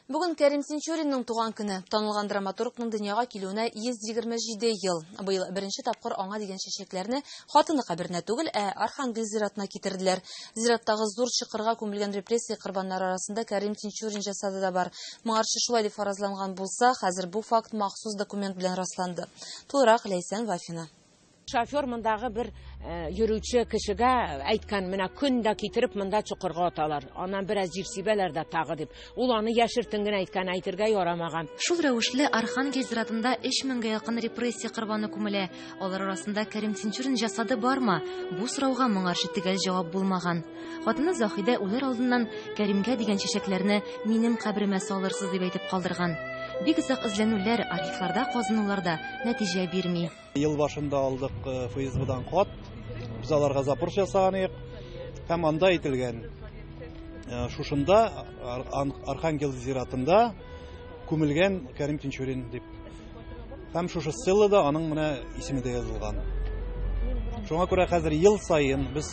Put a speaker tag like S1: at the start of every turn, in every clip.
S1: Бүген Кәрим Тинчуринның туган көне. Танылган драматургның дөньяга килүенә 127 ел. Быел беренче тапкыр аңа дигән чәчәкләрне хатыны каберенә түгел, ә Архангел зиратына китерделәр. Зираттагы зур чокырга күмелгән репрессия корбаннары арасында Кәрим Тинчурин җасады да бар. Моңарчы шулай дип фаразланган булса, хәзер бу факт махсус документ белән расланды. Тулырак Ләйсән Вафина. Шофер мондагы
S2: бер йөрүче кешегә әйткән, менә көн дә китереп монда чокырга аталар. Аннан бераз җир сибәләр дә тагы дип. Ул аны яшертен генә әйткән, әйтергә ярамаган. Шул рәвешле
S3: Архангель зиратында 3000 якын репрессия корбаны күмелә. Алар арасында Кәрим Тинчурин җасады бармы? Бу сорауга моңарчы төгәл җавап булмаган. Хатыны Заһидә үләр алдыннан Кәримгә дигән чәчәкләрне минем кабремә салырсыз дип әйтеп калдырган. Бик озак эзләнүләр, архивларда казынулар да нәтиҗә бирми. Ел башында
S4: алдык ФСБдан хат. Без аларга запрос ясаган идек. Һәм анда әйтелгән, шушында Архангел зиратында күмелгән Кәрим Тинчурин дип. Һәм шушы селлада аның менә исеме дә язылган. Шуңа күрә хәзер ел саен без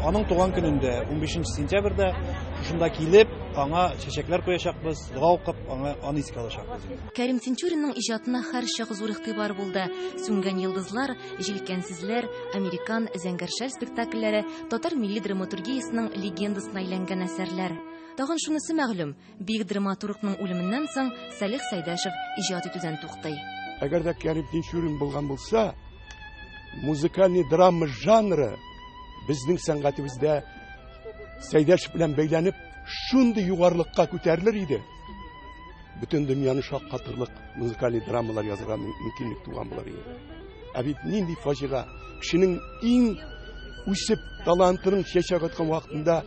S4: аның туган көнендә, 15 сентябрьдә шушында килеп, аңа чәчәкләр куячакбыз, дога укып, аңа аны искә алачакбыз. Кәрим Тинчуринның
S3: иҗатына һәрчак зур игътибар булды. Сүнгән йолдызлар, җилкәнсезләр, американ, зәңгәр шәл спектакльләре татар милли драматургиясенең легендасына әйләнгән әсәрләр. Тагын шунысы мәгълүм, бөек драматургның үлеменнән соң Салих Сәйдәшев иҗат итүдән туктый. Әгәр дә Кәрим
S5: Тинчурин булган булса, музыкальный драма жанры безнең сәнгатебездә Сәйдәшев белән бәйләнеп шундый югарылыкка күтәрелер иде. Бөтен дөньяны шаккатырлык музыкаль драмалар язырга мөмкинлек туган булыр иде. Ә бит нинди фаҗига! Кешенең иң үсеп, талантының чәчәк аткан вакытында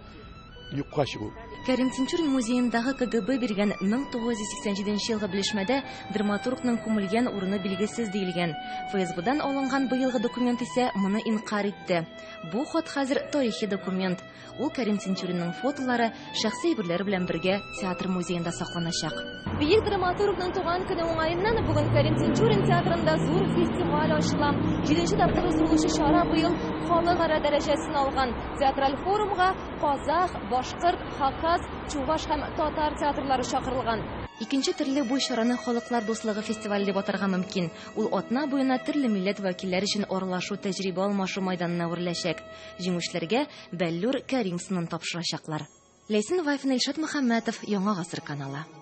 S5: юкка чыгу. Кәрим Тинчурин
S3: музеендагы КГБ биргән 1987 елгы белешмәдә драматургның күмелгән урыны билгесез диелгән. ФСБдан алынган быелгы документ исә моны инкарь итте. Бу хат хәзер тарихи документ. Ул Кәрим Тинчуринның фотолары, шәхси әйберләре белән бергә театр музеенда сакланачак. Бөек драматургның
S1: туган көне уңаеннан бүген Кәрим Тинчурин театрында зур фестиваль ачыла. Җиденче тапкыр уздырылучы чара быел халыкара дәрәҗәсен алган. Театраль форумга казах, башкорт, хакас, чуваш һәм татар театрлары чакырылган. Икенче төрле бу
S3: чараны халыклар дуслыгы фестивале дип атарга мөмкин. Ул атна буена төрле милләт вәкилләре өчен аралашу, тәҗрибә алмашу мәйданына әвереләчәк. Җиңүчеләргә Бәллүр Кәримсынын тапшырачаклар. Ләйсән Вафина, Илшат Мөхәммәтов, Яңа гасыр каналы.